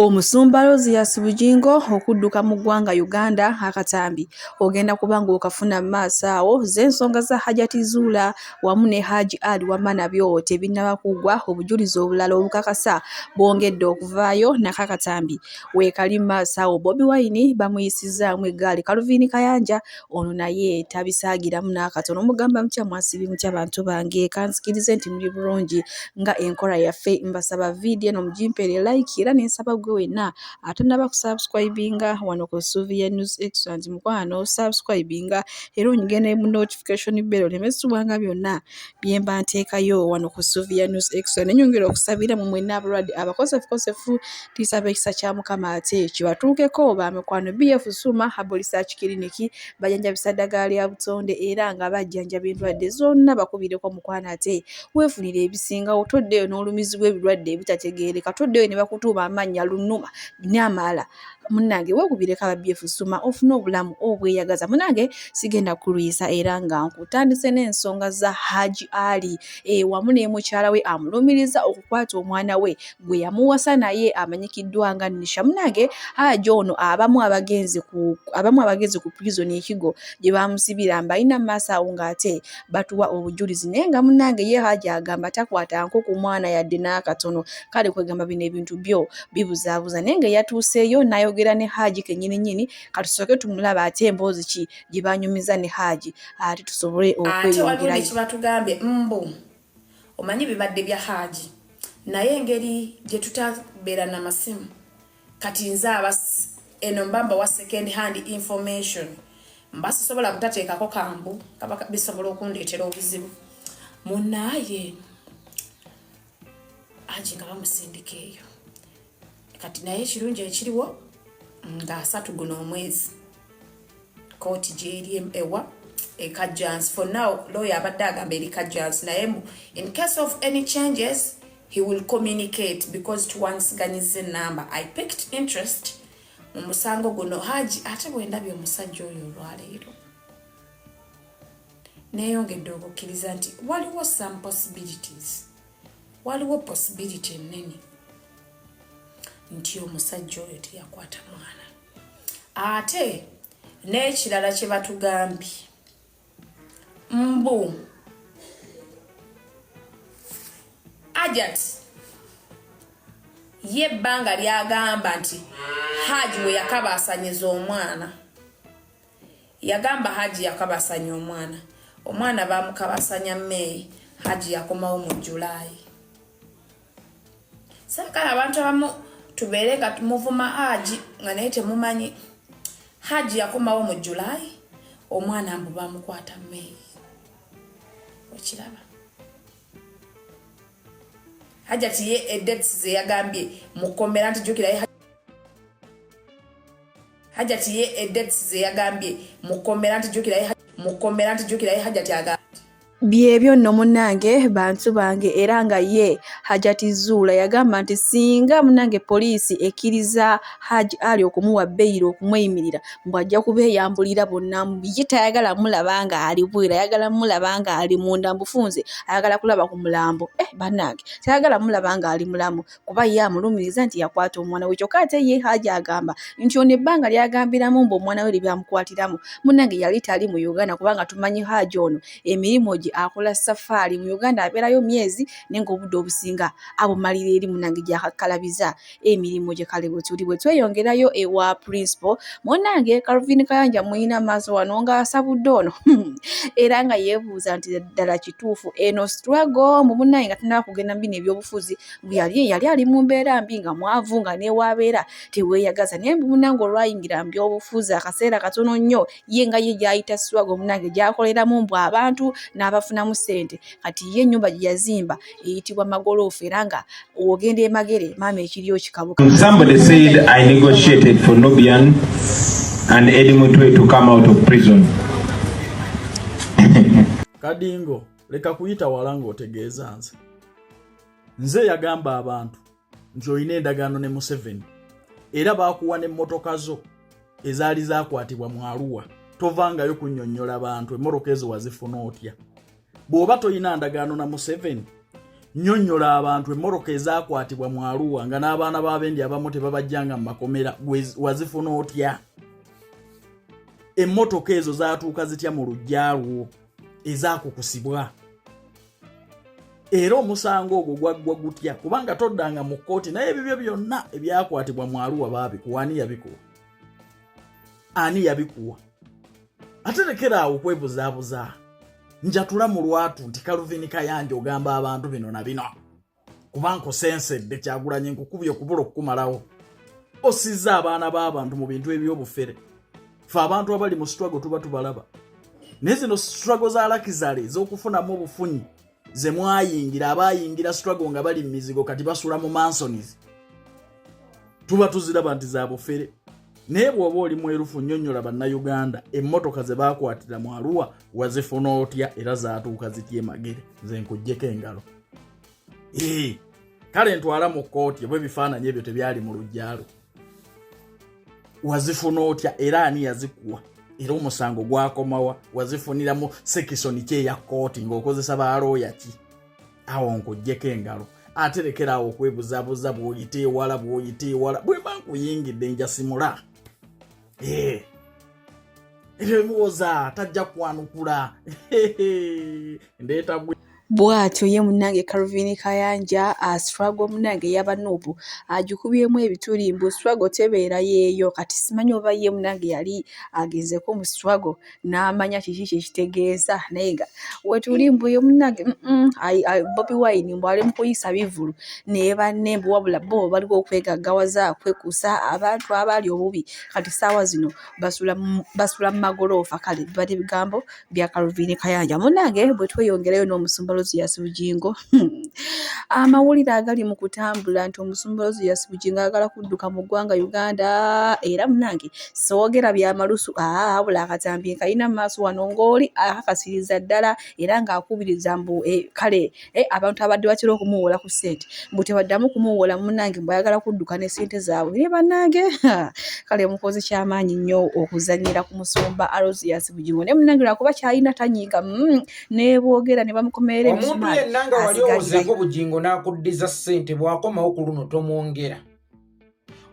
Omusumba Rosius Bugingo okudduka mu ggwanga Uganda akatambi ogenda kuba ng'okafuna mu maaso awo ze ensonga za Hajati Zuula wamu ne Haji Ali Wama nabyo tebinnaba kuggwa obujulizi obulala obukakasa bwongedde okuvaayo nako akatambi weekali mu maaso awo Bobi Wine bamuyisizzaamu eggaali Calvin Kayanja ono naye tabisaagiramu n'akatono mugamba mutya mwasibi mutya bantu bange kanzikirize nti muli bulungi nga enkola yaffe mbasaba vidiyo eno mugimpere like era nensaba gwe wenna atanaba kusubscribinga wano ku suuvi ya news excellent mukwano subscribinga era onyige ne mu notification bell oleme sibwanga byonna byemba nteekayo wano ku Sylvia News Extra ne nyongera okusabira mu mwenna abalwadde abakosefukosefu tulisaba ekisa kya Mukama ate kibatuukeko ba mikwano BF Suma Herbal Research Clinic bajanjabisa ddagala lya butonde era nga bajjanjaba endwadde zonna bakubireko mukwano ate weefunire ebisingawo toddeyo n'olumizibwa ebirwadde ebitategeereka toddeyo ne bakutuuma amannya lunuma n'amala munange wegubire kala byefu suma ofuna obulamu obweyagaza munange sigenda kulwisa era nga nkutandise n'ensonga za haji ali e, wamu ne mukyala we amulumiriza okukwata omwana we gwe yamuwasa naye amanyikiddwa nga nisha munange haji ono abamu abagenzi ku abamu abagenzi ku prison ekigo gye bamusibira mbalina maaso awo ng'ate batuwa obujulizi naye nga munange ye haji agamba takwata nko ku mwana yadde n'akatono kale kwegamba bino ebintu byo bibuzaabuza naye nga eyatuuseeyo n'ayogera ne haji kenyini nyini katusooke tumulaba ate emboozi ki gye banyumiza ne haji ate tusobole okweyongerayobatugambye mbu omanyi bibadde bya haji naye engeri gye tutabeera na masimu Kati nze abas eno mba mbawa second hand information mba sisobola butateekako kambu kaba bisobola okundeetera obuzibu munaaye angi nga bamusindika eyo kati naye ekirungi ekiriwo nga asatu guno omwezi kooti gyeri ewa ekajans for now lawyer abadde agamba eri kajans naye mu in case of any changes he will communicate because tuwansiganyiza enamba i picked interest mu musango guno haji ate bwendabye omusajja oyo olwaleero neyongedde okukkiriza nti waliwo some possibilities waliwo possibility ennene nti omusajja oyo teyakwata mwana ate n'ekirala kye batugambye mbu ajat ye ebbanga lyagamba nti haji we yakabaasanyiza omwana yagamba haji yakabasanya omwana omwana bamukabasanya meeyi haji yakomawo mu julaayi saagala abantu abamu tubeere nga muvuma haji nga naye temumanyi haji yakomawo mu july omwana mbu bamukwata may okiraba hajati ye edets zeyagambye mukomera nti jukira hajati ye edets zeyagambye mukomera nti jukira mukomera nti jukira hajati agambye Byebyo nno munnange bantu bange era nga ye Hajati Zuula yagamba nti singa munnange poliisi ekkiriza Haji Ali okumuwa beyiro okumweyimirira mbu ajja kubeeyambulira bonna ye tayagala mulaba nga ali bwera ayagala mulaba nga ali munda mufunze ayagala kulaba ku mulambo eh bannange tayagala mulaba nga ali mulamu kuba ye amulumiriza nti yakwata omwana we kyokka ate ye haja agamba nti ono ebbanga lyagambiramu mbu omwana we lyebyamukwatiramo munange yali tali mu uganda kubanga tumanyi haja ono emirimu gye akola safaari mu uganda abeerayo myezi naye ngaobudde obusinga abumalira eri munange gyakakkalabiza emirimu gye kale bwetuli bwe tweyongerayo ewa principal munange calvin kayanja muyina maaso wano ngaasabudde ono hmm. era nga yeebuuza nti ddala kituufu eno struggle mu munange nga tunaba kugenda mu bino ebyobufuzi yali yali ali mu mbeera mbi nga mwavu nga newaabeera teweeyagaza naye munange olwayingira mbi obufuuzi akaseera katono nnyo ye nga ye gyayita swago munange gyakoleramu mbu abantu n'abafunamu ssente kati ye ennyumba gye yazimba eyitibwa magoloofu era nga ogenda emagere maama ekiri okikabuka and Eddie Mutwe to come out of prison. Kadingo. leka kuyita wala ng'otegeeza nze nze yagamba abantu nti olina endagaano ne museveni era baakuwa n'emmotoka zo ezaali zaakwatibwa mu aluwa tovangayo kunyonnyola bantu emmotoka ezo wazifuna otya bw'oba tolina ndagaano na museveni nyonnyola abantu emmotoka ezaakwatibwa mu aluwa nga n'abaana b'abendi abamu tebabajjanga mu makomera wazifuna otya emmotoka ezo zaatuuka zitya mu lujja lwo ezakukusibwa era omusango ogwo gwaggwa gutya kubanga toddanga mu kkooti naye ebibyo byonna ebyakwatibwa mu aluwa baabikuwa ani yabikuwa ani yabikuwa ate lekera awo okwebuzaabuza njatula mu lwatu nti kaluvini kayanja ogamba abantu bino na bino kuba nkusensedde kyagulanye nkukubye okubula okukumalawo osizza abaana b'abantu mu bintu eby'obufere fe abantu abali mu struggle tuba tubalaba naye zino struggle za lakizale ez'okufunamu obufunyi ze mwayingira abayingira struggle nga bali mu mizigo kati basula mu mansonies tuba tuziraba nti za bufere naye bw'oba oli mwerufu nnyonnyola bannayuganda emmotoka ze baakwatira mu aluwa wazifuna otya era zaatuuka zitya emagere nze nkuggyeko engalo kale ntwala mu kkooti oba ebifaananyi ebyo tebyali mu lujjalo wazifuna otya era ani yazikuwa era omusango gwakomawa wazifuniramu sekisoni ki eya kkooti ng'okozesa balooya ki awo nkuggyeko engalo ate lekeraawo okwebuzabuza bw'oyita ewala bw'oyita ewala bwe mba nkuyingidde njasimula eh. ebimuwoza tajja kwanukula ndeeta bwatyo ye munange Calvin Kayanja aswago munange yaba nubu ajikubyemu ebituli mbu swago tebeera yeeyo kati simanyi oba ye munange yali agezeko mu swago n'amanya kiki kye kitegeeza naye nga wetuli mbu yo munnange bobi wine mbu ali mu kuyisa bivulu ne banne mbu wabula bo baliwo okwegaggawaza kwekuusa abantu abaali obubi kati ssaawa zino basula mu magoloofa kale bibadde bigambo bya kalviini kayanja munnange bwe tweyongerayo n'omusumba loziyasi bugingo Amawulire agali mu kutambula nti omusumba Ozias Bugingo ayagala kudduka mu ggwanga Uganda era munange soogera bya malusu aa wabula akatambi nkalina mu maaso wano ng'oli akakasiriza ddala era ng'akubiriza mbu eh, kale eh, abantu abadde batera okumuwoola ku ssente mbu tebaddamu kumuwoola munange mbu ayagala kudduka ne ssente zaabwe naye bannange kale mukozi kyamaanyi nnyo okuzannyira ku musumba Alozias Bugingo naye munange lwakuba kyalina tanyiiga mm. nebwogera nebamukomerera omuntu yenna nga wali owozeeko obugingo n'akuddiza ssente bw'akomawo ku luno tomwongera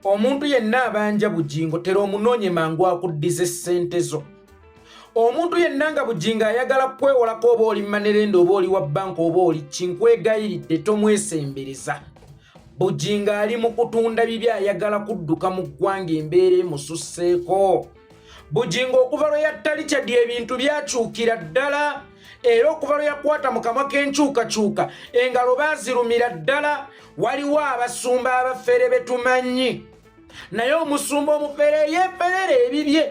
omuntu yenna abanja bugingo tera omunoonye mangu akuddiza essente zo omuntu yenna nga bugingo ayagala kwewolako oba oli manerenda oba oli wa banka oba oli kinkwegayiridde tomwesembereza bugingo ali mu kutunda bibi ayagala kudduka mu ggwanga embeera emususseeko bugingo okuva lwe yatta richard ebintu byakyukira ddala era okuva lwe yakwata mu kamwa k'enkyukakyuka engalo baazirumira ddala waliwo abasumba abafere be tumanyi naye omusumba omufere yeeferera ebibye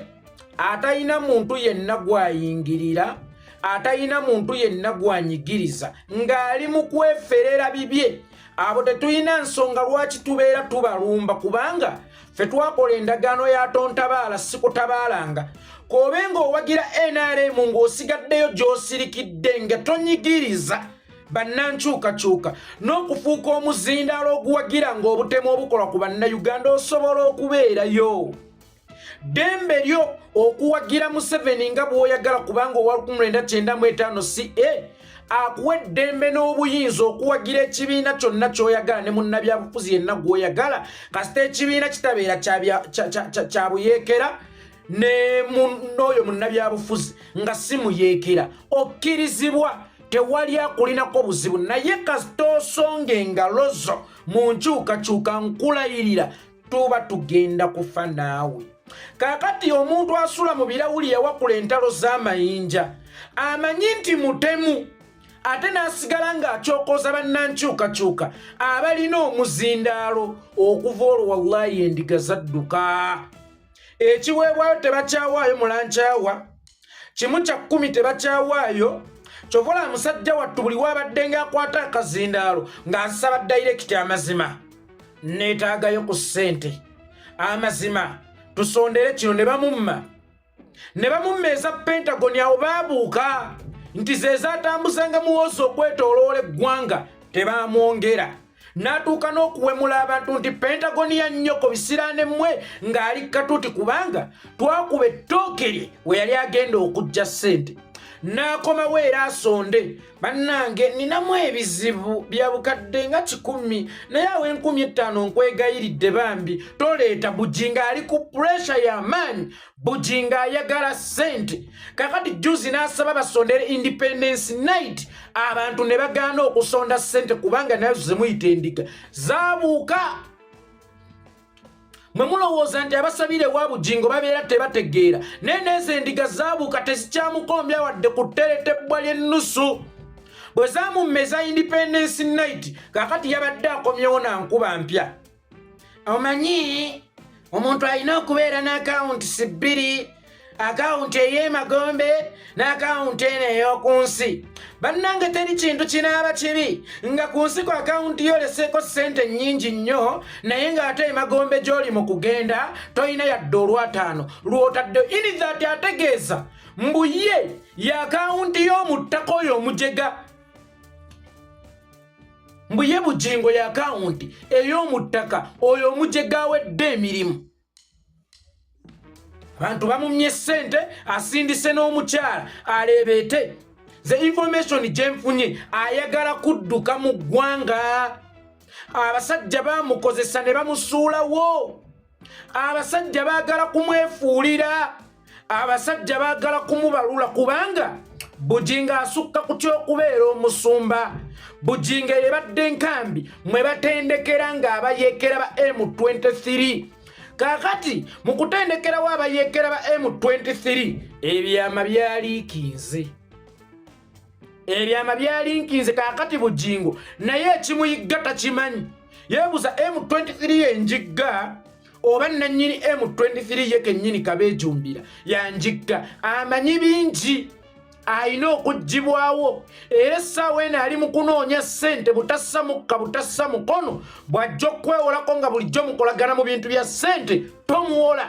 atalina muntu yenna gwayingirira atalina muntu yenna gwanyigiriza ng'ali mu kweferera bibye abo tetulina nsonga lwaki tubeera tubalumba kubanga fe twakola endagaano ya tontabaala sikutabaalanga koobe ng'owagira nrm ng'osigaddeyo gy'osirikidde nga tonyigiriza bannankyukakyuka n'okufuuka omuzindaalo oguwagira ng'obutemu obukolwa ku bannayuganda osobola okubeerayo ddembe lyo okuwagira museveni nga bw'oyagala kubanga owa 1995 ca akuwa eddembe n'obuyinza okuwagira ekibiina kyonna ky'oyagala ne munnabyabufuzi yenna gw'oyagala kasita ekibiina kitabeera kya buyeekera n'oyo munnabyabufuzi nga si muyeekera okkirizibwa tewali akulinako buzibu naye kasita osonga engalo zo mu nkyukakyuka nkulayirira tuba tugenda kufa naawe kaakati omuntu asula mu birawuli yawakula entalo z'amayinja amanyi nti mutemu ate n'asigala ng'akyokoza bannankyukakyuka abalina omuzindaalo okuva olwo wallayi endiga zadduka ekiweebwayo tebakyawaayo mulankyawa kimu kya kkumi tebakyawaayo kyova olaba musajja wattu buli waabadde ng'akwata akazindaalo ng'asaba dayirekiti amazima neetaagayo ku ssente amazima tusondere kino ne bamumma ne bamumma eza pentagoni awo baabuuka nti ze zaatambuzanga muwoozi okwetooloola eggwanga tebaamwongera n'atuuka n'okuwemula abantu nti pentagoni ya nnyoko bisiraane mmwe ng'ali katuuti kubanga twakuba ettooke lye we yali agenda okujja ssente n'akomawo era asonde bannange ninamu ebizibu bya bukadde nga kikumi naye awo enkumi ettaano nkwegayiridde bambi toleeta bugi ng'ali ku puresha y'amaanyi bujingo ayagala sente kakati juzi n'asaba basondere independence night abantu ne bagaana okusonda sente kubanga nazo zemuyita endiga zabuuka mwe mulowooza nti abasabire wa bujingo babeera tebategeera naye neezo endiga zabuuka tezikyamukombya wadde ku teretebbwa ly'ennusu bwe zamummeza independence night kakati yabadde akomyewo na nkuba mpya omanyi omuntu alina okubeera n'akawunti si bbiri akawunti ey'emagombe n'akawunti eno ey'oku nsi bannange teri kintu kinaaba kibi nga ku nsi ku akawunti yo oleseeko ssente nnyingi nnyo naye ng'ate emagombe gy'oli mu kugenda tolina yadde olwataano lw'otadde inithati ategeeza mbu ye y'akawunti y'omu ttaka oyo omujega mbu ye bugingo ya akawunti ey'omuttaka oyo omugyegawedde emirimu abantu bamumye ssente asindise n'omukyala aleebeete ze information gyenfunye ayagala kudduka mu ggwanga abasajja bamukozesa ne bamusuulawo abasajja baagala kumwefuulira abasajja baagala kumubalula kubanga bujinga asukka ku ky'okubeera omusumba bujinga yebadde nkambi mwe batendekera ng'abayeekera ba m23 kakati mu kutendekerawo abayeekera ba m23 ebyama byaliikinze ebyama byalinkinze kakati bujingo naye ekimuyigga takimanyi yebuza m23 yenjigga oba nanyini m23 ye kenyini kabejumbira yanjigga amanyi bingi alina okugibwawo era essaawa eno ali mu kunoonya ssente butassa mukka butassa mukono bw'ajja okukwewolako nga bulijjo mukolagana mu bintu bya ssente tomuwola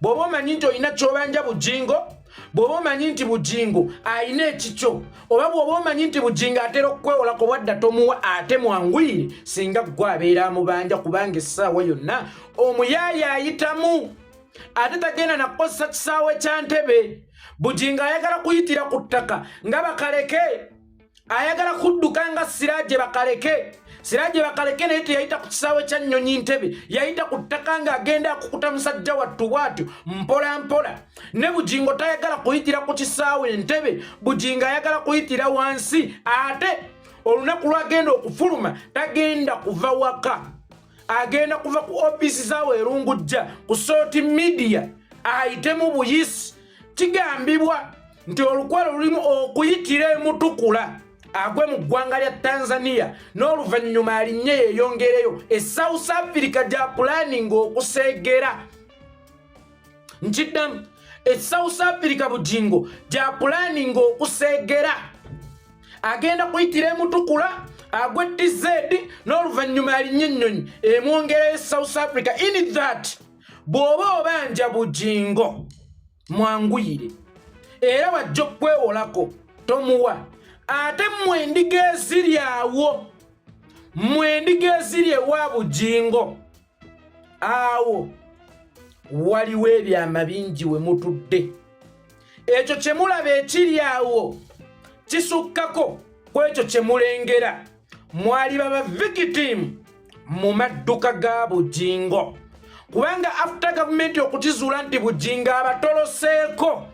bw'oba omanyi nti olina kyobanja bujingo bw'oba omanyi nti bujingo alina ekikyo oba bw'oba omanyi nti bujingo atera okukwewolako wadda tomuwa ate mwanguyire singa ggwe abeera amubanja kubanga essaawa yonna omuyaaye ayitamu ate tagenda nakukozesa kisaawe kya ntebe bujingo ayagala kuyitira ku ttaka nga bakaleke ayagala kudduka nga siraje bakaleke siraje bakaleke naye teyayita ku kisaawe kya nnyonyi ntebe yayita ku ttaka nga agenda akukuta musajja wattu bwatyo mpola mpola ne bugingo tayagala kuyitira ku kisaawe ntebe bugingo ayagala kuyitira wansi ate olunaku lwagenda okufuluma tagenda kuva waka agenda kuva ku ofiisi zaawe erungujja ku soti midiya ayitemu buyisi kigambibwa nti olukwe lulimu okuyitira emutukula agwe mu ggwanga lya tanzania n'oluvannyuma alinye yeeyongereyo e south africa gya pulaninga okuseegera nkiddamu e south africa bugingo gya pulaninga okuseegera agenda kuyitira emutukula agwe tz n'oluvannyuma alinye ennyonyi emwongereyo e south africa in that bw'oba obanja bugingo mwanguyire era wajja okukwewolako tomuwa ate mwe endiga eziri awo mwe endiga eziri ewa bugingo awo waliwo ebyama bingi we mutudde ekyo kye mulaba ekiri awo kisukkako ku ekyo kye mulengera mwali baba victim mu madduka ga bujingo kubanga after gavumenti okukizuula nti bujingo abatoloseeko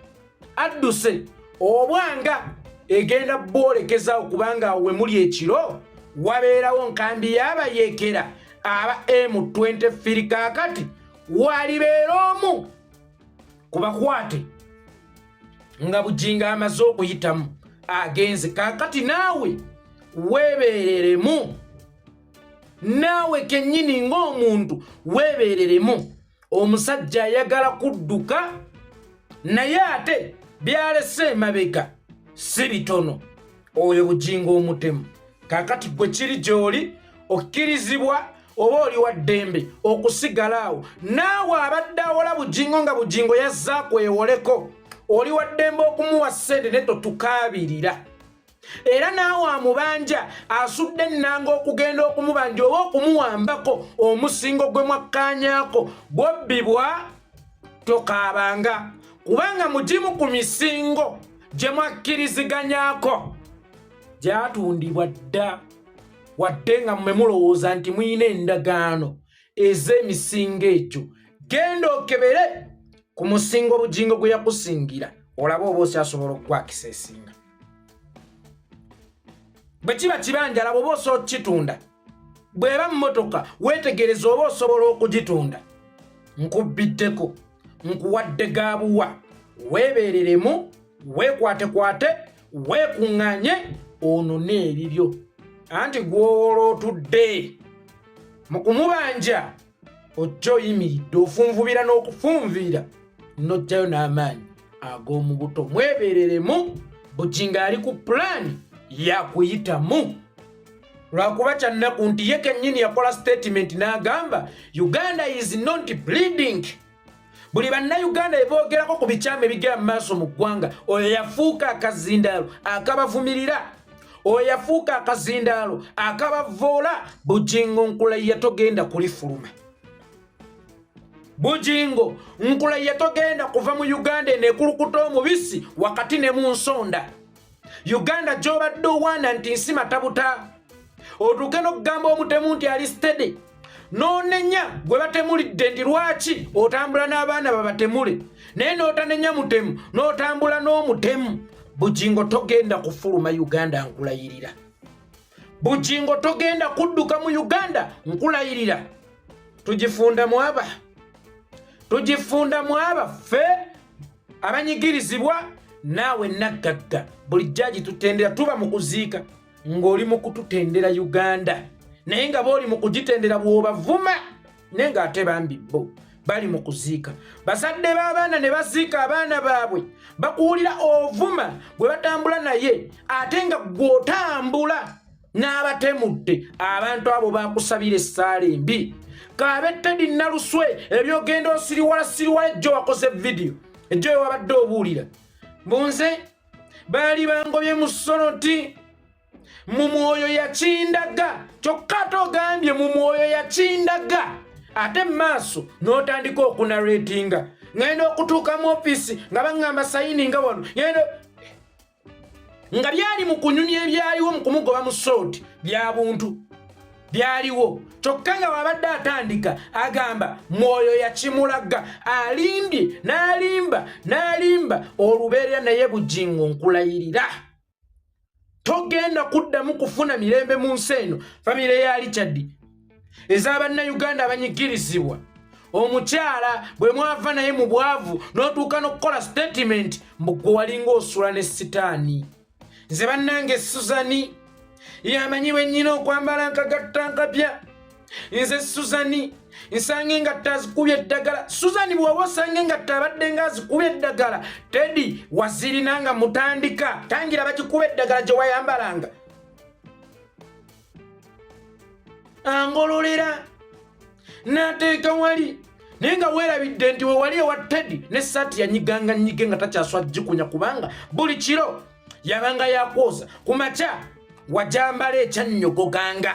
adduse obwanga egenda bwolekezawo kubanga awo wemuli ekiro wabeerawo nkambi yabayekera aba m23 kakati walibeera omu kubakwate nga bujinga amaze okuyitamu agenze kakati naawe weebeereremu naawe kennyini ng'omuntu weebeereremu omusajja ayagala kudduka naye ate byalese emabega si bitono oyo bujingo omutemu kakati gwe kiri gyoli okkirizibwa oba oli wa ddembe okusigala awo naawe abadde awola bujingo nga bujingo yazza kwewoleko oli wa ddembe okumuwa ssente ne totukaabirira era naawe amubanja asudde ennanga okugenda okumubanja oba okumuwambako omusingo gwe mwakkaanyaako bwobbibwa tokaabanga kubanga mugimu ku misingo gye mwakkiriziganyako gyatundibwa dda wadde nga mmwe mulowooza nti mulina endagaano ez'emisingo egyo genda okebere ku musingo obugingo gwe yakusingira olaba oba osyasobola okukwakisa esinga bwe kiba kibanja laba oba osooka kitunda bw'eba mmotoka weetegereza oba osobola okugitunda nkubbiddeko nkuwadde gaabuwa weebeereremu weekwatekwate weekuŋŋanye onone ebibyo anti gw'owoola otudde mu kumubanja ojja oyimiridde ofunvubira n'okufunviira n'ojjayo n'amaanyi ag'omu buto mwebereremu bujinga ali ku pulaani yakuyitamu lwakuba kyannaku nti ye kennyini yakola sitatimenti n'agamba uganda is not bleeding buli bannayuganda beboogerako ku bikyama ebigera mu maaso mu ggwanga oyo yafuuka akazindaalo akabavumirira oyo yafuuka akazindaalo akabavoola bujingo nkulaiya togenda kulifuluma bujingo nkulaiya togenda kuva mu uganda enekulukuta omubisi wakati ne mu nsonda uganda gyobadde owaana nti nsi matabuta otuuke n'okugamba omutemu nti ali stede n'onenya gwe batemulidde nti lwaki otambula n'abaana babatemule naye n'otanenya mutemu n'otambula n'omutemu bugingo togenda kufuluma uganda nkulayirira bujingo togenda kudduka mu uganda nkulayirira tugifunda mwaba tugifunda mwaba ffe abanyigirizibwa naawe naggagga buli jjaji tutendera tuba mu kuziika ng'oli mu kututendera uganda naye nga booli mu kugitendera bw'obavuma naye ng'ate bambi bo bali mu kuziika bazadde b'abaana ne baziika abaana baabwe bakuwulira ovuma gwe batambula naye ate nga gw'otambula n'abatemudde abantu abo bakusabira essaala embi kaabe tedi naluswe ebyogenda osiriwala siriwala ejjo wakoze vidiyo ejjo wewabadde obuulira bunze baali bangobye mu sono nti mu mwoyo yakindaga kyokka ate ogambye mu mwoyo yakindaga ate mu maaso n'otandika okunaretinga ŋenda okutuuka mu ofiisi nga baŋŋamba sayini nga wano ŋenda nga byali mu kunyumya ebyaliwo mu kumugoba mu sooti bya buntu byaliwo kyokka nga wabadde atandika agamba mwoyo yakimulaga alimbye n'alimba n'alimba olubeerera naye bujingo nkulayirira togenda kuddamu kufuna mirembe mu nsi eno famire ya richard ez'abannayuganda abanyigirizibwa omukyala bwe mwava naye mu bwavu n'otuuka n'okukola sitatimenti mbu gwe walinga osula ne sitaani nze bannange suzani yamanyi bwennyina okwambala nkagatta nkapya nze suzani nsange nga tazikubye eddagala suzani bwaba osange nga tabadde nga azikubye eddagala tedi wazirina nga mutandika tangira bagikuba eddagala gye wayambalanga angololera nateeka wali naye nga weerabidde nti wewali ewa tedi ne saati yanyiganga nyige nga takyaswa gikunya kubanga buli kiro yabanga yakwoza ku makya wajambala ekyannyogo ganga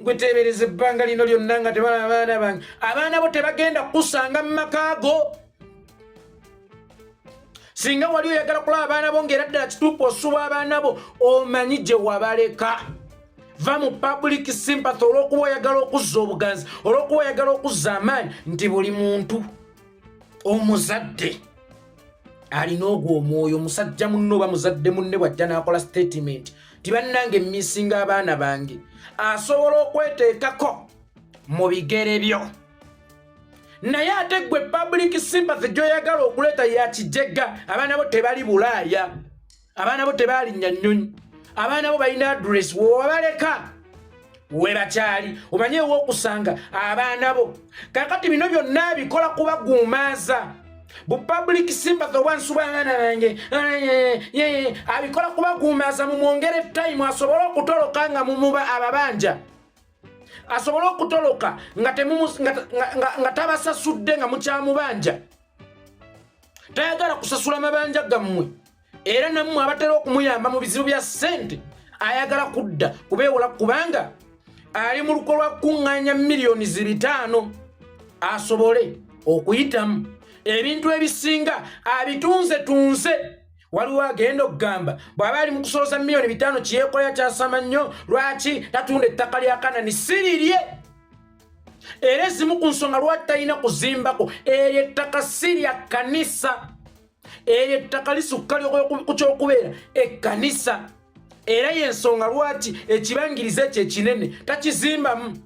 gwe teebereza ebbanga lino lyonna nga tebalaba abaana bange abaana bo tebagenda kukusanga mu maka go singa wali oyagala kulaba abaana bo ngaera ddala kituufu osuba abaana bo omanyi gye wabaleka va mu public sympathy olwokuba oyagala okuzza obuganzi olwokuba oyagala okuzza amaanyi nti buli muntu omuzadde alina ogwo omwoyo omusajja munne oba muzadde munne bwajja n'akola sitatimenti ti bannange misinga abaana bange asobola okweteekako mu bigere byo naye ate gwe public sympathy gy'oyagala okuleeta yakijega abaana bo tebali bulaaya abaana bo tebalinnya nnyonyi abaana bo balina adress wowabaleka webakyali omanye ewokusanga abaana bo kakati bino byonna bikola kubaguumaaza bu public sympathy obwansuba abaana bange abikola kubaguumaaza mumwongere time asobole okutoloka nga mumuba ababanja asobole okutoloka nga tabasasudde nga mukyamubanja tayagala kusasula mabanja gammwe era nammwe abatera okumuyamba mu bizibu bya ssente ayagala kudda kubeewola kubanga ali mu luko lwa kukuŋŋaanya miliyoni zibitaano asobole okuyitamu ebintu ebisinga abitunze tunze waliwo agenda okugamba bw'aba ali mu kusoloza miliyoni bitaano kyeyekolera kyasama nnyo lwaki tatunda ettaka lya kanani sirirye era ezimu ku nsonga lwaki talina kuzimbako eryo ettaka si lya kkanisa eryo ettaka lisukka lyoku kyokubeera ekkanisa era yensonga lwaki ekibangiriza ekyo ekinene takizimbamu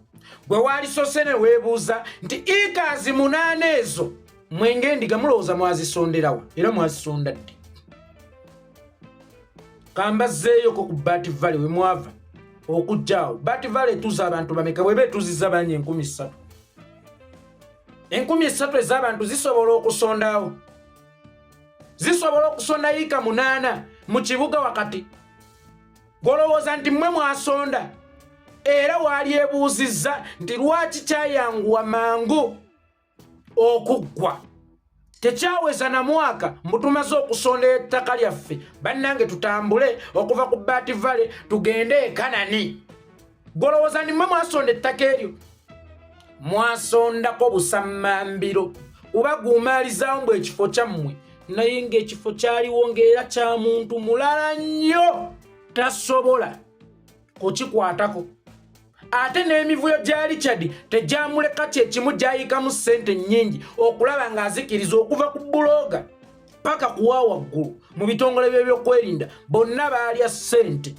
bwe waalisose ne weebuuza nti ikaazi munaana ezo mwenge endiga mulowooza mwazisonderawa era mwazisonda ddi kambazzeeyoko ku baati vale we mwava okujjaawo bat vale etuza abantu bameka bweba etuziza bangi enkumi ssatu enkumi ssatu ez'abantu zisobola okusondawo zisobola okusonda yiika munaana mu kibuga wakati golowooza nti mmwe mwasonda era waalyebuuzizza nti lwaki kyayanguwa mangu okuggwa tekyaweza na mwaka mbutumaze okusonda ettaka lyaffe bannange tutambule okuva ku baati vale tugende ekanani golowooza nimwe mwasonda ettaka eryo mwasondako busammambiro kuba guumaalizawo mbu ekifo kyammwe naye ng'ekifo kyaliwo ng'era kya muntu mulala nnyo tasobola kukikwatako ate n'emivuyo gya richard tegyamuleka kyekimu gyayikamu ssente nnyingi okulaba ng'azikiriza okuva ku bulooga paka kuwa waggulu mu bitongole by'ebyokwerinda bonna baalya ssente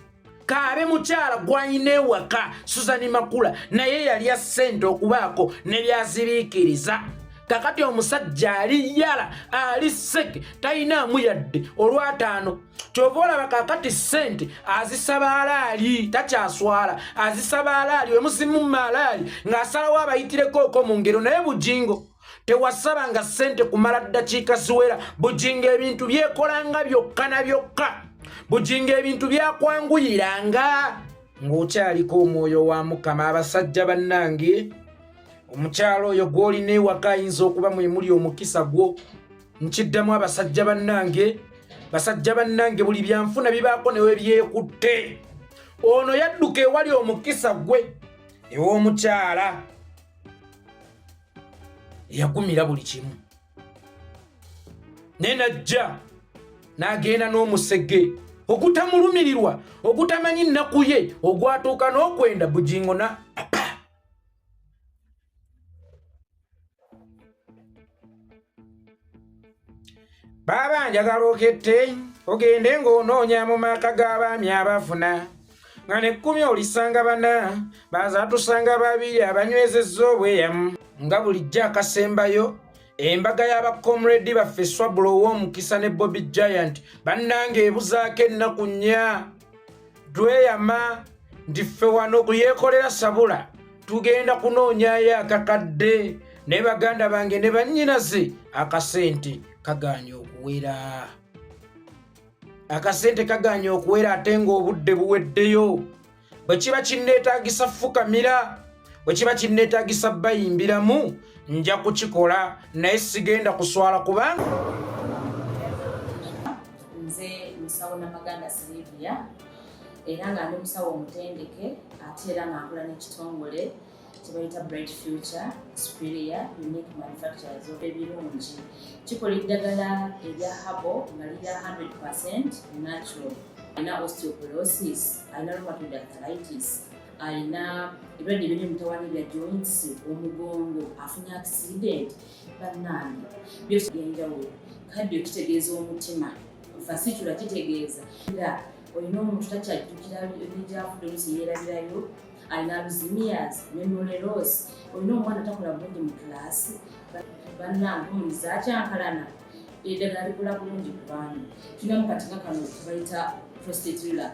kaabe mukyala gwalina ewaka suzani makula naye yalya ssente okubaako ne byaziriikiriza kakati omusajja ali yala ali seke talina amuyadde olwataano kyova olaba kakati sente azisaba alaali takyaswala azisaba alaali wemuzimu maalaali ng'asalawo abayitireko oko mu ngero naye bujingo tewasaba nga sente kumala ddakiika ziwera bujingo ebintu byekolanga byokka na byokka bujingo ebintu byakwanguyiranga ng'okyaliko omwoyo wa mukama abasajja bannange omukyalo oyo gw'olina ewaka ayinza okuba mwemuli omukisa gwo nkiddamu abasajja bannange basajja bannange buli byanfuna bibaako newe byekutte ono yadduka ewali omukisa gwe ew'omukyala eyagumira buli kimu naye najja n'agenda n'omusege okutamulumirirwa okutamanyi nnaku ye ogwatuuka n'okwenda bugingo na baaba njagala okette ogende ng'onoonya mu maka g'abaami abafuna nga nekkumi olisanga bana bazatusanga babiri abanywezezza obweyamu nga bulijjo akasembayo embaga y'abacomredi baffe swabula ow'omukisa ne bobi giant bannanga ebuzaako ennaku nnya tweyama nti ffe wano ku yeekolera sabula tugenda kunoonyayo akakadde ne baganda bange ne bannyinaze akasente kagaanye okuwera akasente kagaanye okuwera ate ng'obudde buweddeyo bwe kiba kinneetaagisa fukamira bwe kiba kinneetagisa bayimbiramu nja kukikola naye sigenda kuswala kubanga nze musawo namaganda silivia era nga ndi musawo omutendeke ate era nga nkola n'ekitongole kyebayita bright future superior unique manufacturers of ebirungi kikola eddagala erya habo nga lirya 100 percent natural alina osteoporosis alina rheumatoid arthritis alina ebirwadde ebiri mutawana ebya joints omugongo afunye accident bannange byose byenjawulo kaddio kitegeeza omutima fasitula kitegeeza nga olina omuntu takyajjukira ebijavudde olusi yeerabirayo alina luzimias memoreros olina omwana takola bulungi mu kulaasi bannange omuntu zakyankalana eddagala likola bulungi ku baana tulinamu katinga kano tubayita prostate relax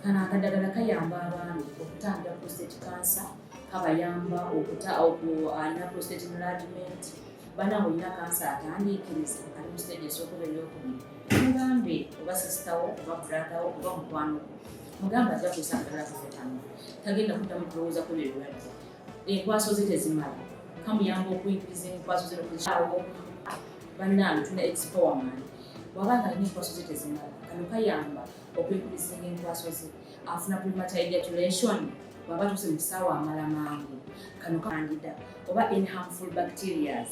Kano akadagala kayamba abaami okutangira prostate cancer, kabayamba okuta alina prostate enlargement bana olina kansa atandiikiriza ali mu stage esookuba eyokubiri mugambe oba sisitawo oba bradawo oba mukwano mugamba ajja kusa akadala kafetamu tagenda kuddamu kulowooza ku byebirwadde enkwaso ze tezimala kamuyamba okuyigiriza enkwaso ze nokukyawo bannange tuna expowerman wabanga alina enkwaso ze tezimala kano kayamba okwekubisinga enkwaso ze afuna premature ejaculation bwaba tuse mu kisaawa amala mangu kano kandida oba in harmful bacterias